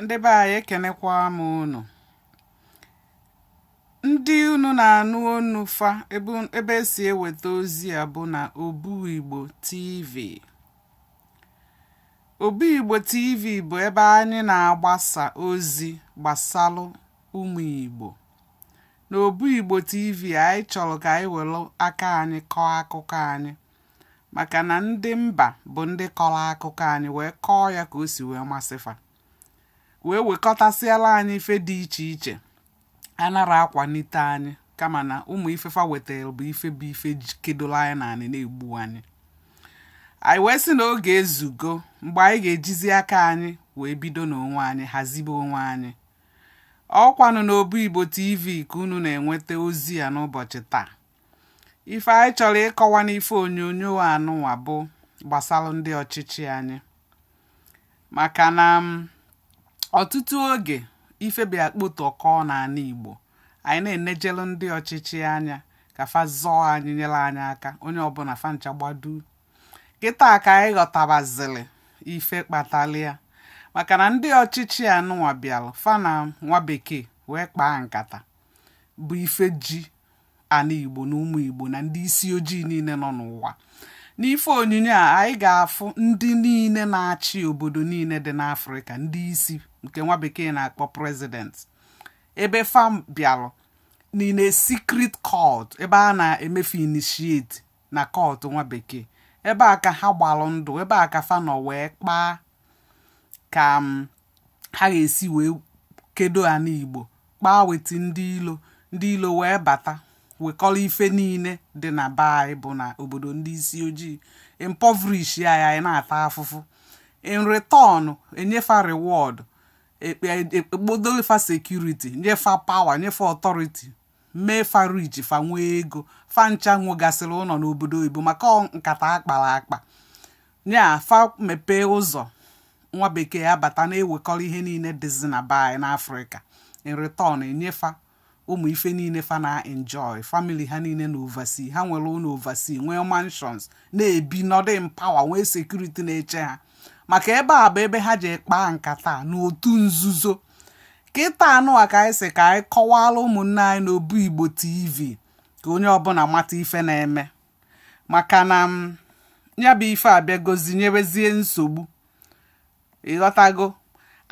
ndị be anyị ekenekwa m unu ndị unu na-anụ onu fa ebe esi eweta ozi a bụ na obu igbo tv obu igbo tv bụ ebe anyị na-agbasa ozi gbasalụ ụmụ igbo n'obu igbo tv anyị chọrọ ka anyị were aka anyị kọọ akụkọ anyị maka na ndị mba bụ ndị kọrọ akụkọ anyị wee kọọ ya ka o si wee masị fa wee wekọtasịala anyị ife dị iche iche anara akwanite anyị kama na ụmụ ife fa wetara bụ ife bụ ife kedoro anyị n'anị na-egbu anyị anyị wee sị na oge ezugo mgbe anyị ga-ejizi aka anyị wee bido n'onwe anyị hazibe onwe anyị ọ kwanụ n'obu igbo tv ka unu na-enweta ozi a n'ụbọchị taa ife anyị chọrọ ịkọwa n'ife onyonyo anụnwa bụ gbasara ndị ọchịchị anyị maka na ọtụtụ oge ife bịa kpotụ ọkụ n'ana Igbo anyị na-enejelu ndị ọchịchị anya ka fa zọọ anyị nyere anyị aka onye ọbụna fa ncha gba duu kịta ka anyị ghọtabazili ife kpatara ya maka na ndị ọchịchị anụnwa bịara fa na nwa bekee wee kpaa nkata bụ ife ji ana igbo na ụmụ igbo na ndị isi ojii niile nọ n'ụwa n'ife onyinyo a anyị ga-afụ ndị niile na-achị obodo niile dị n'afrịka ndị isi nke nwa bekee na-akpọ president ebe fa bịalụ n'ime secret cult ebe a na-eme fa initiate na cult nwa bekee ebe a ka ha gbalụ ndụ ebe a ka fa nọ wee kpaa ka um, ha ga-esi wee kedo ana igbo kpaa weta ndị ilo ndị ilo wee bata wekọrọ ife niile dị na be anyị bụ na obodo ndị isi ojii impoverish ya ya anyị na-ata afụfụ in return enye fa reward ekpodolu fa security nye fa power nye fa authority mee fa rich fa nwee ego fa ncha nwegasịrị ụnọ n'obodo oyibo maka ọ nkata akpara akpa ya fa mepee ụzọ nwa bekee abata na-ewekọrọ ihe niile dịzi na be anyị n'afrịka in return enye fa ụmụ ife niile fa na-enjoy family ha niile na overseas ha nwere ụnọ overseas nwee mansions na-ebi nọdụ in power nwee security na-eche ha maka ebe a bụ ebe ha ji kpaa nkata n'otu nzuzo kịta anụnwa ka anyị sị ka anyị kọwara ụmụnne anyị na obu igbo tv ka onye ọbụna mata ife na-eme maka na ya bụ ife abịagozi nyebezie nsogbu ịghọtago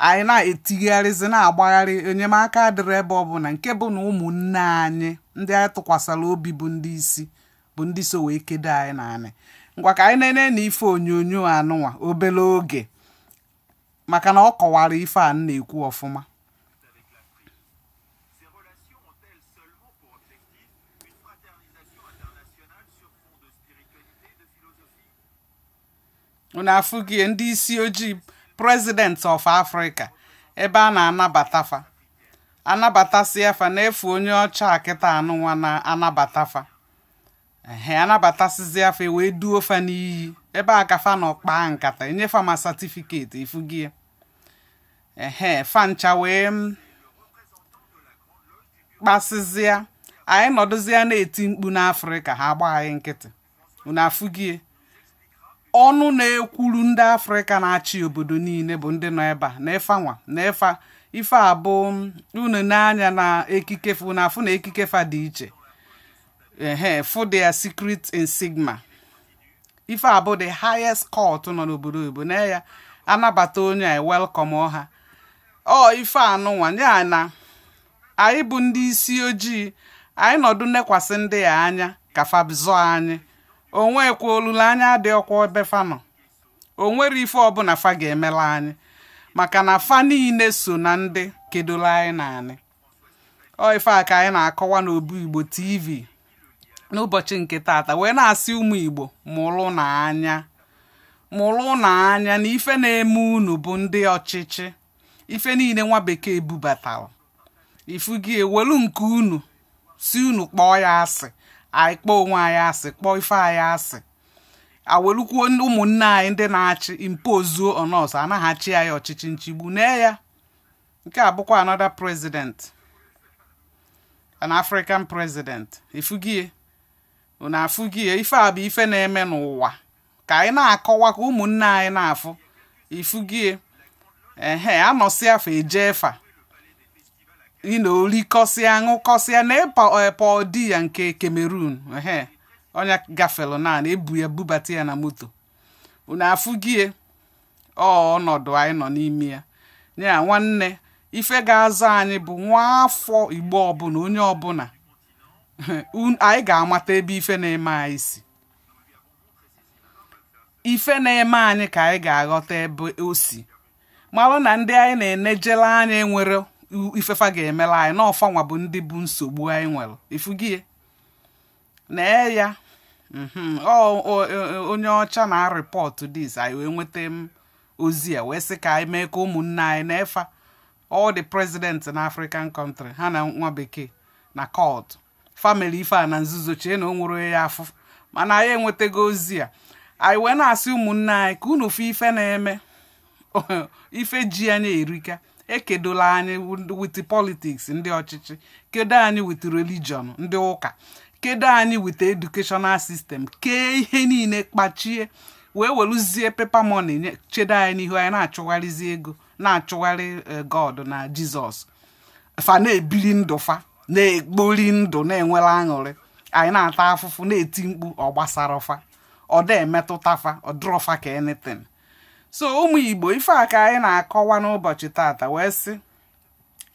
anyị na-etigharịzi na-agbagharị enyemaka adịrị ebe ọ bụla nke bụ na ụmụnne anyị ndị anyị tụkwasịrị obi bụ ndị isi bụ ndị so wee kedo anyị n'anị ngwa ka anyị nene na ife onyonyo anụnwa obele oge maka na ọ kọwara ife a m na-ekwu ọfụma unu afụgie ndị isi ojii president of africa ebe a na-anabata fa anabatasịa fa na-efu onye ọcha a kịta a nụnwa na-anabata fa ehe anabatasịzịa fa e wee duo fa n'iyi ebe a ka fa nọ kpaa nkata enye fa ma satifiketi ifugie ehe fa ncha wee m kpasịzịa anyị nọdụzịa na-eti mkpu n'afrịka ha gba anyị nkịtị unu afụgie ọnụ na-ekwuru ndị afrịka na-achị obodo niile bụ ndị nọ ebe a na ịfanwa na ịfa ife abụ unu n'anya na ekike fa unu afụ na ekike fa dị iche ehe for their secret in sigma ife a bụ the highest cult nọ n'obodo oyibo na ya anabata onye a welcome ọha ọ ife a nụnwa ya na anyị bụ ndị isi ojii anyị nọdụ nekwasị ndị a anya ka fa zọọ anyị onwekwa olileanya adịrọkwa ebe fa nọ o nwerọ ife ọbụna fa ga-emelu anyị maka na fa niile so na ndị kedolu anyị n'anị ọ ife a ka anyị na-akọwa n'obu igbo tv n'ụbọchị nke tata wee na-asị ụmụ igbo mụrụnụ anya mụrụnụ anya na ife na-eme unu bụ ndị ọchịchị ife niile nwa bekee bubatara ifugie welu nke unu sị unu kpọọ ya asị anyị kpọọ onwe anyị asị kpọọ ife anyị asị awelukwuo ụmụnne anyị ndị na-achị impozuo on us a na ha achị anyị ọchịchị nchigbu nee ya nke a bụkwa another president an African president ifugie unu afụgie ife a bụ ife na-eme n'ụwa ka anyị na-akọwa ka ụmụnne anyị na-afụ ifugie ehe anọsịa fa ejee fa nọọ rikọsịa ṅụkọsịa na ịpa Paul Biya nke Cameroon ehe onye gafere na ebu ya bubata ya na moto unu afụgie ọ ọnọdụ anyị nọ n'ime ya ya nwanne ife ga-azọ anyị bụ nwa afọ igbo ọbụna onye ọbụna anyị ga-amata ebe ife na-eme anyị si ife na-eme anyị ka anyị ga-aghọta ebe o si malụ na ndị anyị na-enejere anya enwerọ ife fa ga-emelu anyị na ọ fanwa bụ ndị bụ nsogbu anyị nwere ifugie nee ya mhm, ọ ọ- ọ- onye ọcha na-arịpọtụ this anyị wee nweta ozi a wee sị ka anyị mee ka ụmụnne anyị na-efa all the president na african country ha na nwa bekee nọkọ fa melu ife a na nzuzo chee na o nwerọ onye ya afụ mana anyị enwetago ozi a anyị wee na-asị ụmụnne anyị ka unu fụ ife na-eme ife ji anyị erika ekedola anyị with politics ndị ọchịchị kedo anyị with religion ndị ụka kedo anyị with educational system kee ihe niile kpachie wee weluzie paper money chedo anyị n'ihu anyị na-achụgharịzi ego na-achụgharị eh, god na jizọs fa na-ebili ndụ fa na-ekpori ndụ na-enwere aṅụrị anyị na-ata afụfụ na-eti mkpu ọ gbasarọ fa ọ da emetụta fa ọ dịrọ fa ka anything so ụmụ igbo ife a ka anyị na-akọwa n'ụbọchị tata wee sị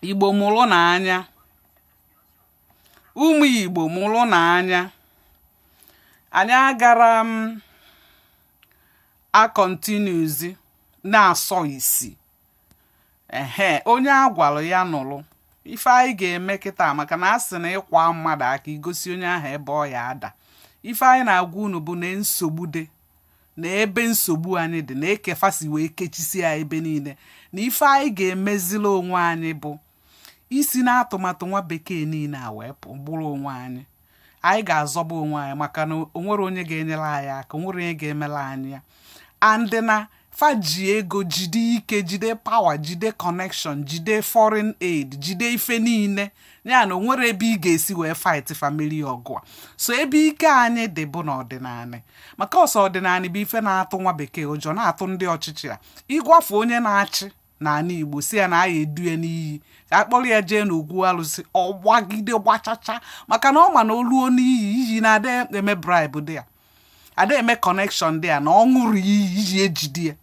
igbo mụrụnụ anya ụmụ igbo mụrụnụ anya anyị agarọ akọntinuzi na-asọ isi ehe onye a gwara ya nụrụ ife anyị ga-eme kịta maka na a sị na ịkwa mmadụ aka igosi onye ahụ ebe ọ ya ada ife anyị na-agwa unu bụ na nsogbu dị na ebe nsogbu anyị dị na ka fa si wee kechisie ebe niile na ife anyị ga-emezila onwe anyị bụ isi n'atụmatụ nwa bekee niile a wee pụ bụrụ onwe anyị anyị ga-azọba onwe anyị maka na o nwerọ onye ga-enyere anyị aka o nwerọ onye ga-emere anyị ya and na fa ji ego jide ike jide power jide connection jide foreign aid jide ife niile ya na o nwerọ ebe ị ga-esi wee fight fa merie ọgụ a so ebe ike anyị dị bụ n'ọdịnala maka ọ sọ ọdịnala bụ ife na-atụ nwa bekee ụjọ na-atụ ndị ọchịchị a ịgwafe onye na-achị n'ala igbo sị ya na a ya edu ya n'iyi ka a kpọrọ ya jee n'ogwu alụsị ọ gbagide gbachacha maka na ọ ma na o ruo n'iyi iyi na-ada eme bribe dị ya ada eme connection dị ya na ọ ṅụrụ iyi iyi ejide ya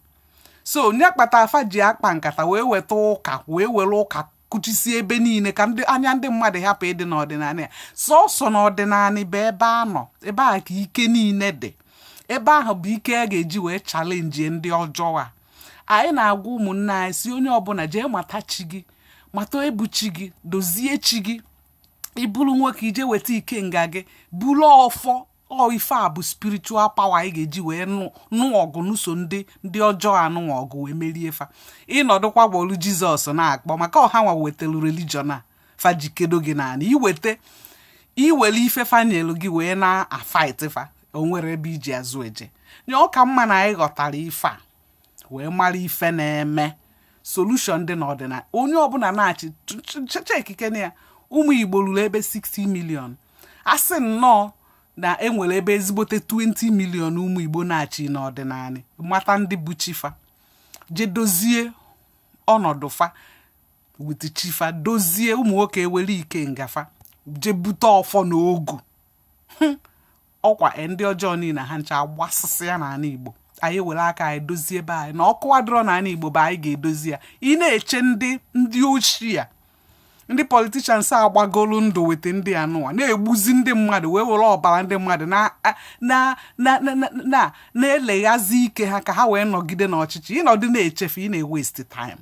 so ọ ya kpata fa ji akpa nkata wee weta ụka wee were ụka kụchisie ebe niile ka ndị anya ndị mmadụ hapụ ịdị n'ọdịnala ọ sọsọ n'ọdịnala bụ ebe a nọ ebe a ka ike niile dị ebe ahụ bụ ike a ga-eji wee challenge ndị ọjọọ a anyị na-agwa ụmụnne anyị sị onye ọbụla jee mata chi gị mata ebu chi gị dozie chi gị ị bụrụ nwoke i jee weta ikenga gị buru ọfọ ọ ife a bụ spiritual power anyị ga-eji wee nụọ ọgụ nụso ndị ndị ọjọọ a nụọ ọgụ wee merie fa ị nọdụkwa bulu jizọs na-akpọ maka ọ ha nwa wetelu religion a fa ji kedo gị naanị iweta iwere ife fa nyelu gị wee na-afaịt fa o nwerọ ebe i ji azụ eje nye ọ ka mma na anyị ghọtara ife a wee mara ife na-eme solution dị n'ọdịnala onye ọbụla na-achị chekike na ya ụmụ igbo ruru ebe 60 million a sị nnọọ na enwere ebe ezigbote 20 million ụmụ igbo nachi n'ọdịnala mata ndị bụ chi fa je dozie ọnọdụ fa with chi fa dozie ụmụ nwoke ewere ikenga fa je bute ọfọ na ogu ọkwa e, ndị ọjọọ niile ha ncha agbasasịa n'ala igbo anyị were aka anyị dozie ebe anyị na okwu adịrọ n'ala igbo bụ anyị ga-edozi ya ị na-eche ndị ndị oshi a ndị politicians a gbagolu ndụ with ndị anụwa na-egbuzi ndị mmadụ wee were ọbara ndị mmadụ na-eleghazi ike ha ka ha wee nọgide n'ọchịchị ị nọdụ na-eche fa ị na-ewesti time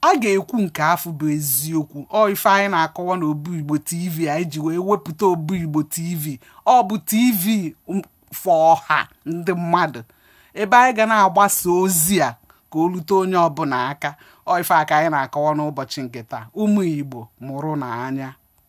a ga-ekwu nke afụ bụ eziokwu ọ ife anyị na-akọwa na obu igbo tv anyị ji wee wepụta obu igbo tv ọ bụ tv for ọha ndị mmadụ ebe anyị ga na-agbasa ozi a ka o rute onye ọbụla aka ọ ife a ka anyị na-akọwa n'ụbọchị nke taa ụmụ Igbo mụrụnụ anya